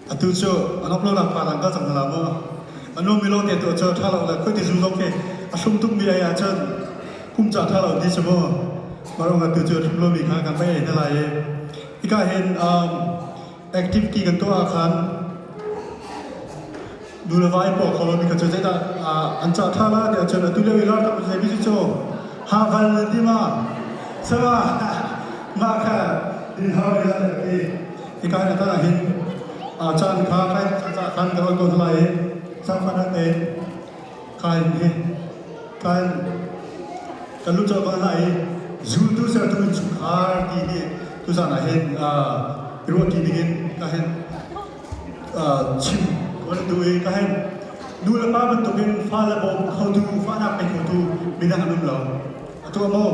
Atu cu a nuam lo lengmang an ka cang hna la maw? A nuammi lawngte tu cu ṭha lo le khuiti zu zong khi a hrum tukmi ei ahcun kumca ṭha lo ti si mu. Mah ruangah atu cu a hrum lomi kha kan va ei hna lai i hika hin activity kan tuah ahkhan nu le vai paw kho mi kha cu zeidah an cah ṭhan lai tiah cun atu lio i ralkap utsai bisi cu ha val nan ti ma sala mah kha hi ha ya le ti i kai na ta hin chan kha kai cah khan ka rawt ko lai i sang man an nei Kain he Kain ka lu cu a kal hna i zultu sertu innchungkhar ti hi tuzan ah hin i ruahti dingin ka hin chim ka duh i ka hin nu le pa bantukin fa le bawm khotu fahnak ngei khotu midang an um lo a tuah maw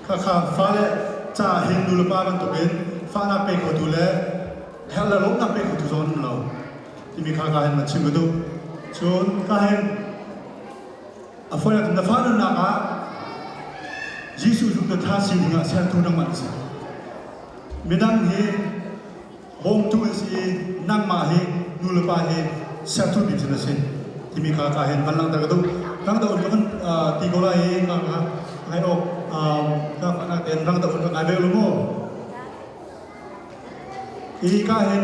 khakha fale caah hin nu le pa bantukin fahnak pe khotu le herh le lawmhnak pe khotu zong an um lo timi kha ka hin van chim ka duh cun ka hin a fawinak na fa nunnak ah Jesuh zumdotha sining ah sertu nangmah na si midang hi bawmtu an si i nangmah hi nu le pa hi sertu bik cu na si timi kha ka hin van langhter ka duh rang doh in ka van ti ko lai i ka ka ngai awk ka nak tein rang doh in ka ngai ve lu maw i ka hin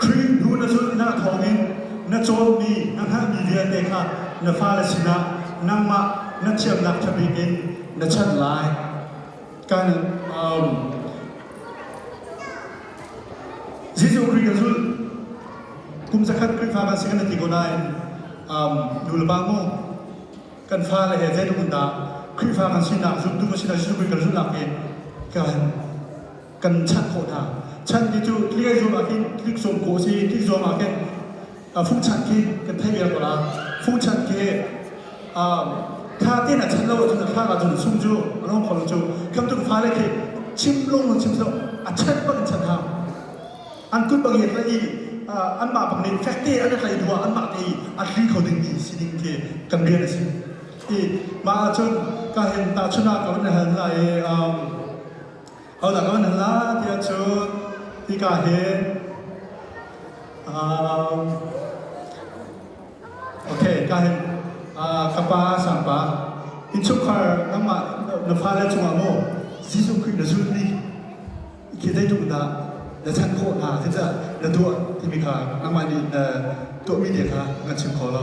Khrih hnu na tlunnak thawngin na cawmmi, na hngalhmi vialte kha na fale sinah nangmah na thiamnak ṭha bik in na chanh lai. Kan um, Jesuh Khrih kan zulh. Kum zakhat Khrihfa kan si kan i ti ko nain um, nu le pa mu, kan fale he zeitluk in dah Khrihfa kan sinak zultu kan si na Jesuh Khrih kan zulh nakin kan kan chanh khawh hna. Chan ti cu tlik zong ah khin tlik sawm khawh si, tlik zong ah khin fuh chan khi kan thei viar ko la. Fuh chan khi kha tin a chan lo ahcun a khang ahcun sung cu a long kho cu kamtuk fale khi chim lung lung chim so a chan bang in chan ha an kut bang yek la i an mah bang nih fek te an tlai dua an mah te i a thli kho ding ti si ding khi kan rian a si i mah ahcun ka hen ta chuna ko na han la i Hodah ko nan la ti ahcun hika hi um, okay ka hin uh, ka pa sangpa inchungkhar nangmah na fale cungah maw Jesuh Khrih na zul ni khi dai tung da na chan khawh hna khi za na tuah timi kha nangmah nih na tuahmi dia kha na chim kho lo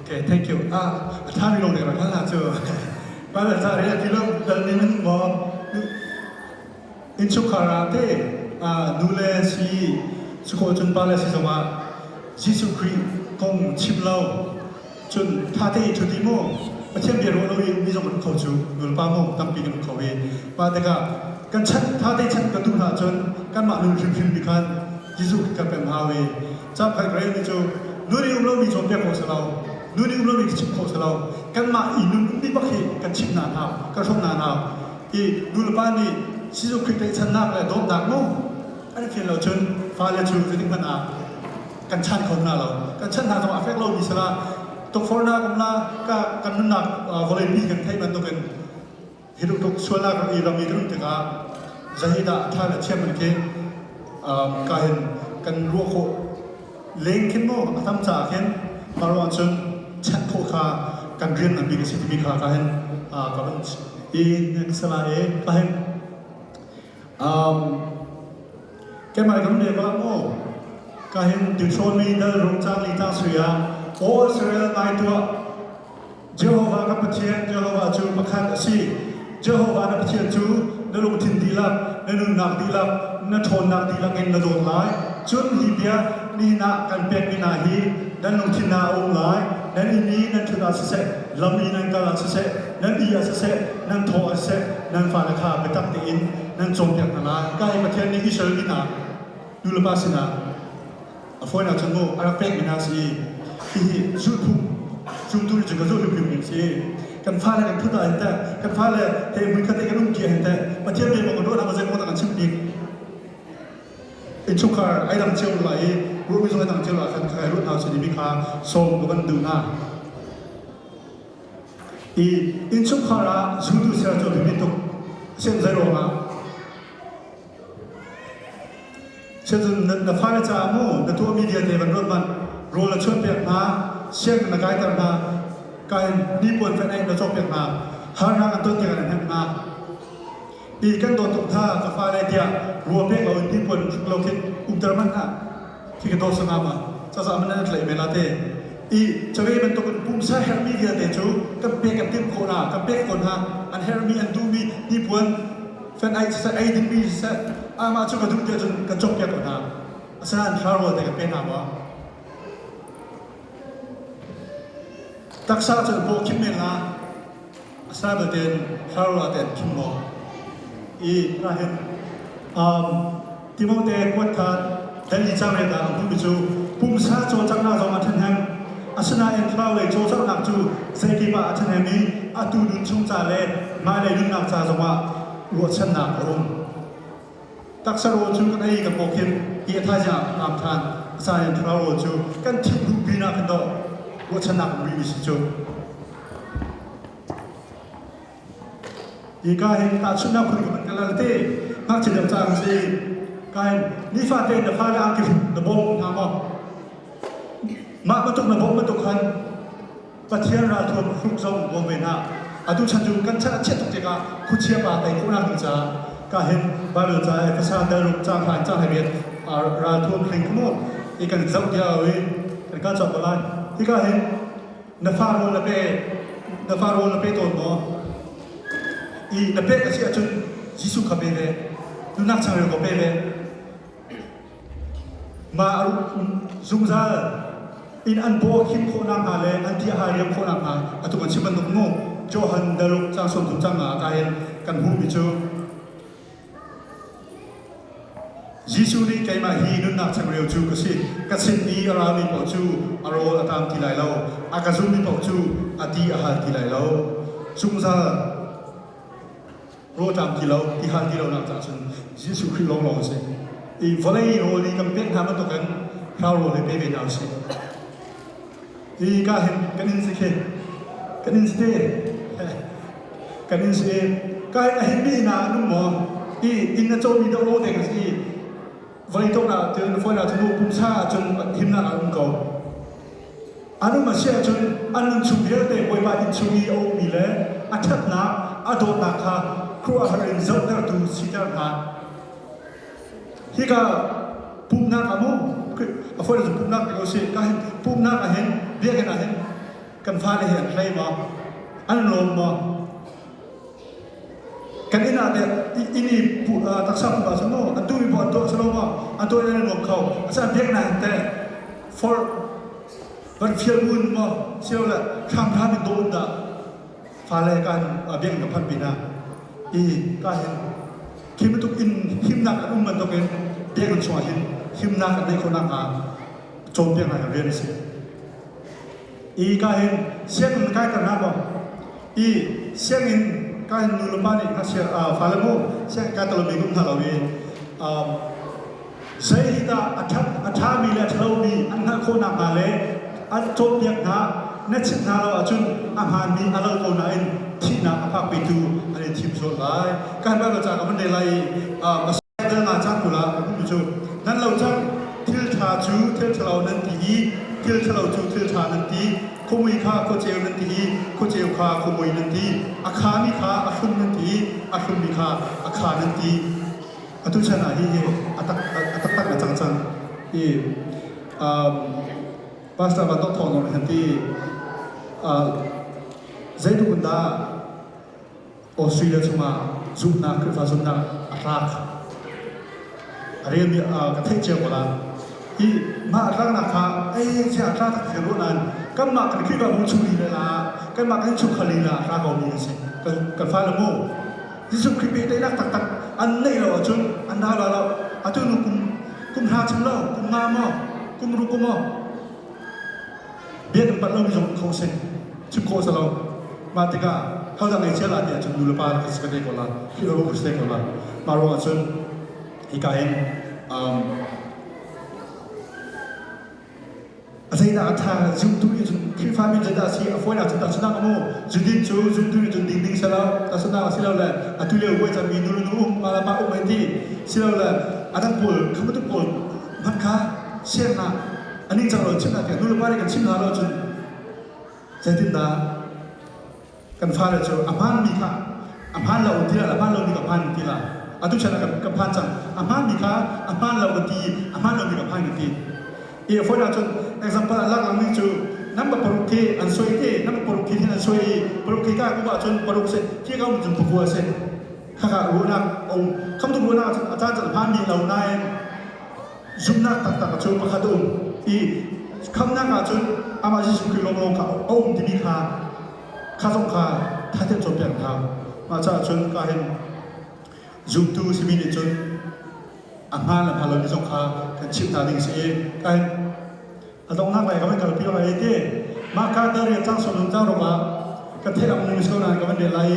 Okay, thank you. Ah, a thami lung nih rak hal hna cu. Paler ca ri aki lo, dal ning in maw. Innchungkhar ah te, nu le si, su ko cun pa le si zongah, Jesuh Khrih kong chim lo, cun thate i thu ti maw, Pathian bia ruah lo i mi zong kan kho cu, nulpa maw, tampi kan kho i, pa tikah, kan chan, thate chan kan duh hlah cun, kanmah nun hrimhrim ni khan, Jesuh kan pem hau i, Cangkhat relmi cu nun i um lomi cawnpiak kho silo, nun i um lomi chim kho silo, kanmah i nunphunmi bak hi kan chimh hna hna, kan hrawmh hna hna. I nulepa nih Jesuh Khrih tlaihchannak le dawtnak maw an i khel lo cun fale cu zetik hmanh ah kan chan kho hna lo. Kan chan hna zong a fek lomi sila tukforhnak um la, kan nunnak vawleipi kan theih bantukin hi rutuk sual ah kan i ram i kan um tikah zahidah a tha le thiam an khi ka hin kan ruah khawh leng khin maw a tam caah khin maro ahcun chanh khawh kha kan rian nganmi ka si timi kha ka hin ka van i ka sala e ka hin keimah kan le ka maw ka hin tiṭhawnmi dal rung cang li ta suya aw Israel ngai tuah Jehovah kan Pathian Jehovah cu pakhat a si. Jehovah na Pathian cu na lungthin dihlak, na nunnak dihlak, na ṭhawnnak dihlak in na dawt lai. Cun hi bia nihin ah kan pekmi hna hi nan lungthin ah a um lai. Nan inn i nan ṭhut ah siseh, lam i nan kal ah siseh, nan ih ah siseh, nan thawh ah siseh, nan fale kha biatak tein nan cawnpiak hna lai. Ka hi Pathian nih Israel mi hna, nulepa sinah A fawinak cu maw a rak pekmi hna si hihi zulhphung zumtu nih cun ka zulh hrimhrim ding si kan fale nih phut ah hin teh kan fale he hmunkhat te kan um ṭi hin teh Pathian biak maw kan ruah nakhnga zeimaw kan chimh bik innchungkhar ai dang cio lo ai ruahmi zong ai dang cio lo ah khan ka kai luat hna sini mi kha sawm ka van duh hna i innchungkhar ah zultu ser cu a biapi tuk sen zei ruangah na fale caah mu na tuahmi vialte van ruat manh rawl a chuanpiak hna sianginn na kaiter hna kain hnipuan fenh na cawkpiak hna harnak an ton tikah na hnemh hna ti kan dawt tuk hna ka fale tiah ruah pek lo in hnipuan hruk lo khi umter hmanh hlah khi ka daw sanam ah cazah man an tlaih ve la te i cave bantuk in pumsa herhmi vialte cu kan pek kan timh khawh hna kan pek khawh hna an herhmi an duhmi hnipuan fan ai siseh ei dingmi siseh amah cu ka duh tiah cun kan cawkpiak ko hna asinain thla rual te kan pe hna maw taksa cun paw khim men la a sana tein Karla tein khim law i hna hin um Timote kuat tha Delhi changrei ta am mi cu pumsa cawlcanghnak zong a ṭhen heng asinain thlaraulei cawlcanghnak cu zeikip ah a ṭhen hem i atu nun chung ca le hmailei nunnak ca zongah ruahchannak a um. taksa rawl cu kan ei ka paw khin hi a thaizing ah ka am than a sa in thura rawl cu kan thim duh pin ah kan doh ruahchanak umi mi si cu hi ka hin tahchunhnak khun kan kalal te ngakchia dang cang si ka hin nifate na fa le angki na bawm hna maw mah batuk na bawm batuk khan Pathian ralthuam hruk zong bawm men hlah. Atu chan cu kan chan a chiat tuk tikah khuachia pa tei ko nak ding caah ka hin Bible ca Ephesa telruk ca khan ca hai biat ralthuam hring come on i kan zoh dia oi kan ka chok ko lai hi ka hin na fa rawl na pe na fa rawl na pe tawn maw i na pe ka si ahcun Jesuh kha pe ve tu nak changreu ko pe ve Nga a ruh zungzal in an paw a khim khawh nakhnga le an ti a hariam khawh nakhnga atu kan chim bantuk nu Johan de Luc cang sawm thum cang ah a kain kan hmuhmi cu Jesuh nih keimah hi nunnak changreu cu ka si ka sin i a rami paoh cu a rawl a taam ti lai lo a ka zulmi paoh cu a ti a hal ti lai lo zungzal rawṭam ti lo, ti hal ti lonak caah cun Jesuh Khrih lawnglawng a si. I vawlei rawl i kan pek hna bantukin thlarau rawl i pe ve hna u sih. Hi ka hin kan in si khi, kan in si te, kan in si. Ka hin a hin mi hna an um maw? Hi inn a cawmi dawh lo deng a si. Voitok ah cun phone ah cun pumsa ah cun himnak ah um ko. An um a si ahcun an nunchung vialte Bawipa inn chung i a ukmi le a ṭhatnak a dawtnak kha khuahar in zohtertu siter hna. Hika pumhnak a mu, a fone cu pumhnak ti ko si, ka hin pumhnak ah hin biakinn ah hin kan fale hi an hlei maw, an lawm maw, kan inn ah inn i tak sam pa cu maw an duhmi bu an dawi silo maw an dawi nan nuam kho asaan biak nai te for van fial bu nu maw sio le hramhram in dawn dah fale kan biak na phan pina i ka hin khi bantuk in himnak an um bantukin biak an suah hin himnak an neih khawnak hnga cawm biak ngai rian a si i ka hin sianginn kai tar hna maw i sianginn ka hin nu le pa nih ngakchia fale mu sianginn kai talomi um hna lo i zeidah a ṭhat a ṭhami le a ṭhalomi an hngalh khawh nakhnga le an cawnpiak hna na chimh hna lo ahcun a hmaanmi a lo ko nain thihnak a phak petu an in thim sual lai. Kan ral ca ka van rel lai i Dal cang tu la tu cu nan lo cang thil tha cu thil thalo nan ti i thil thalo cu thil tha nan ti khomui kha khawcheu nan ti i khawcheu kha khomui nan ti a kha mi kha a hrun nan ti a hrun mi kha a kha nan ti atu chan ah hi hi a tak a taktak a cang cang hi um pastor van dok thong nong han ti uh zeituk dah Australia chungah zumhnak Khrihfa zumhnak a tlak a rel ka theih cio ko la hi mah a tlaknak kha ei sia a tlak tak thil ruah nan kanmah kan Khrihfa mu chung lila la kanmah kan chung khal lila ra ko mi asi kan fa le mu Jesuh Khrih pehtlaihnak taktak an neih lo ahcun an ra lo lo atu nu kum kum hna chung lo kum nga maw kum ruku maw bia kan palh lomi zong kho seh chim khawh salo mah tikah thaldang ngei cia la ti ahcun nulepa rak si ka te ko la philh ro ka si te ko la mah ruang ahcun hika in um, azeidah a tha zumtu nih cun khrihfami cu dah si a fawinak cu tasnak mu zundin cu zumtu nih cun ding ding sela tasnak si lo le a tu leo voi cami nulu nu um ngala ma um ai ti si lo le a dang pawl khamatu pawl man kha siang ah an ing cang lo chim hna tiah nulepa nih kan chim hna lo cun zeitindah kan fale cu a hmaanmi kha a hmaan lo tilah a hmaan lomi ka hmaan tilah atu chan ah kan, kan phan cang a hmaanmi kha a hmaan lo ka ti a hmaan lomi ka phan ka ti i a fawi ahcun example ah lakangmi cu namba paruk khi an soi e namba paruk khi an soi i paruk khi ka kup ahcun paruk se khi ka um cun puku a se khaka ruahnak a um khamtu ruahnak ahcun a caan cun a hmaanmi a lo nain zumhnak taktak cu pakhat a um i khamnak ahcun amah Jesuh Khrih lawnglawng kha a um timi kha kha zong kha thatin cawnpiak hna mah caah cun ka hin zumtu simi nih cun a hmaan le hmaan lomi zong kha kan chimh hna ding a si i ka hin a donghnak lai ka van kalpi awk ai ti mahka te rian cang sawlun cang rok ah ka theih ang ning so nan ka van rel lai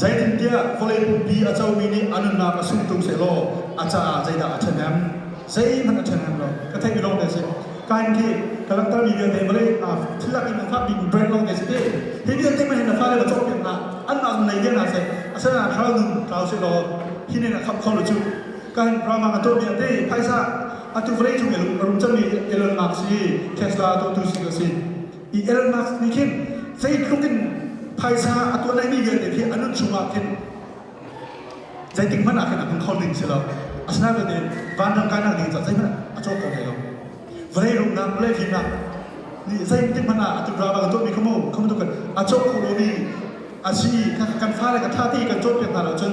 zeitintiah vawlei pumpi a comi nih a nunnak a sung tung seh law a caah zeidah a ṭhen em zeihmanh a ṭhen em lo ka theih mi lawng te a si kain khi ka langhter mi vialte vawlei thil lakin a fakmi brand lawng te a si ti hi vialte ma hin na fale na cawk tiang ah an nak nai tiang ah seh a sana thlau nun thlau se law hi ne na khap kho lo cu kan rama ka tuah mi ati phaisa Atu vawlei cung a rum cangmi Elon Musk hi Tesla dotu si ka si. I Elon Musk nih khin zeitluk in phaisa a tuan naimi vialte khi a nun chungah khin zeitik hmanh ah khin a hman kho ding si lo. Asinain bate vanram kainak ding caah zeihmanh a cawk kho hlei lo. Vawlei rumnak, vawlei fimnak nih zeitik hmanh ah atu raba kan tuahmi kha mu, kha mu tukin a cawk kho lomi a si i kan fale kan thate kan cawnpiak hna lo cun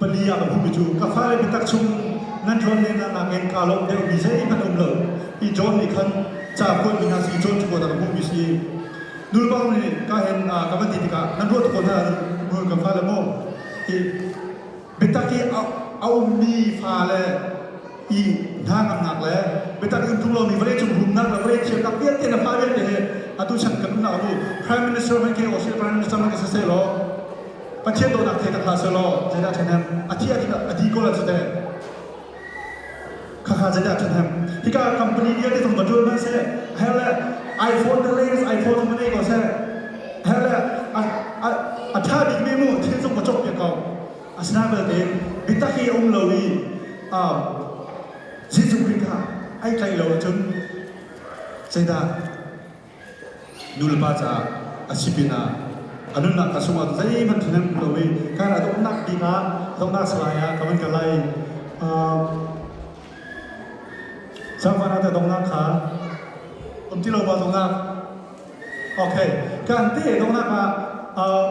pali ah kan um i cu ka fale biatak chung nan John nih na nakin kaa lawmh deuhmi zeihmanh um lo i John nih khan ca kuatmi hna si John cu dang hmuhmi si nulpa nih ka hen ka van ti tikah nan ruah kho hna nu ka fale maw i biatak i a ummi fale i hnangamnak le biatak in tlung lomi vawleicung rumnak le vawlei thiamnak vialte na fa vialte he atu chan kan umnak abu prime minister man ke o si prime minister man ke saseh law Pathian dawtnak thei ka tha selaw zeidah ṭhahnem a thi a di kawl cu teh khakha zeidah ṭhahnem hika company vialte thong va ṭul hmanh seh her le iPhone the latest iPhone thong va nei ko seh her le a ṭha bikmi mu thil thong va cawk piak ko asina belte bitak hi a um lo i Jesuh Khrih kha ai tlaih lo ahcun zeidah nulepa caah a si pinah a nunnak ka chungah zeihmanh ṭhen hmu lo i ka ra donghnak bik ah donghnak salai ah ka van kal lai sangvan ah donghnak kha um ti lo ba donghnak ok kan te donghnak ah um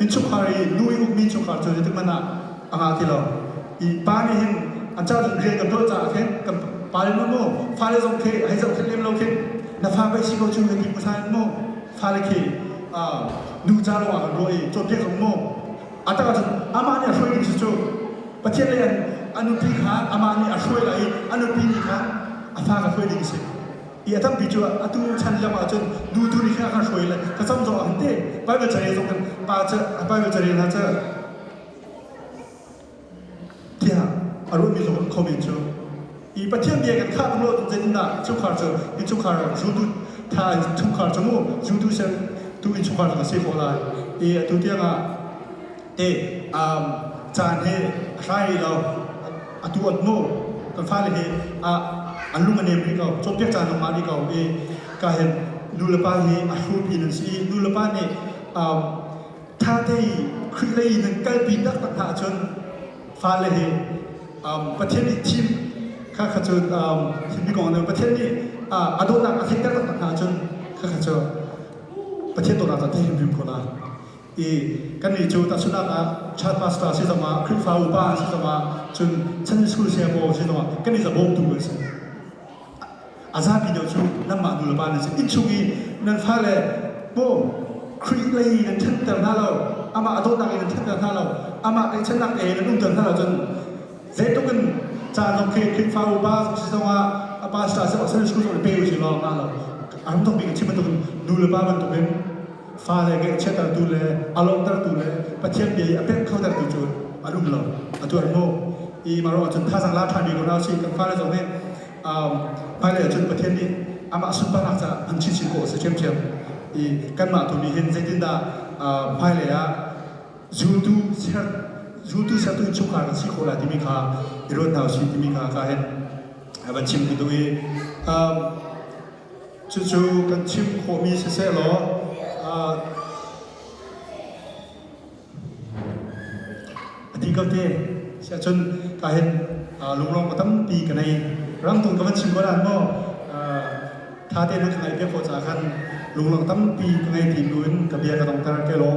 innchungkhar i nu i ukmi chungkhar cu zeitikhmanh ah a ngah ti lo i pa nih hin an car rian kan tuah caah khin kan pale nu mu fale zong khi hei zohkhenh lem lo khi na fa vai si ko cu na ti hmu sa mu fale khi nu ca lawngah kan ruah i cawnpiak hau mu a tak ahcun amah nih a hruai ding si cu pathian lei an nupi kha amah nih a hruai lai i a nupi nih khan a fa kha hruai ding a si i a tampi cu atu chan lem ahcun nu tu ni kha kha hruai le ka cam zong am te Bible carel zong kan pa cu Bible carel hna cu tiah a ruahmi zong an comment cu i Pathian bia kan khah lo zeitindah chungkhar cu in chungkhar zultu tha chungkhar cu mu zultu ser tu in chungkhar cu si ko lai i atu tiangah te um caan he hrai lo atu an hnu kan fale hi an lung a nem rih ko cawnpiak caan lawng ngah rih ko i ka hin nulepa hi a hrupi nan si i nulepa nih ṭhate i Khrih lei nan kalpi taktak hna ahcun fale hi Pathian nih thim kha kha cu thimmi kong nih Pathian nih a dawtnak a theih taktak hna ahcun kha kha cu Pathian dawtnak cu a thei hrimhrim ko lai. i kannih cu tahchunhnak ah church pastor si zong ah Khrihfa upa si zong ah cun Sunday school siangpaw si zong ah kan i zabawmtu an si a zapi deuh cu nanmah nu le pa nan si innchung i nan fale maw Khrih lei in nan ṭhenter hna lo amah a dawtnak in nan ṭhenter hna lo amah tlaihchannak e nan umter hna lo cun zeitluk in caan zong khi Khrihfa upa si zong ah a pastor si zong Sunday school zong i pe u si law ngah lo a ram dong bik a chim bantuk in nu le pa bantuk in fale ngaihchiatertu le a lawmhtertu le Pathian bia i a pek khotertu cu an um lo a tuan maw i mah ruang cun thazang la ṭhan rih ko hna usih kan fale zong nih hmailei ah cun Pathian nih amah sunparnak caah hman chinchin khawh a si ṭhiamṭhiam i kanmah tu nih hin zeitindah hmailei ah zultu ser zultu sertu innchungkhar kan si khawh lai timi kha i ruat hna usih timi kha ka hin a van chim ti duh i Cucu kan chim khawhmi siseh law a ti ko te si ahcun ka hin lunglawm aw tampi ka nei. Ramtung ka van chim ko nan maw tate na ka ngaih ve ko caah khan lunglawm tampi ka ngei ti bu in ka bia ka dongter te law.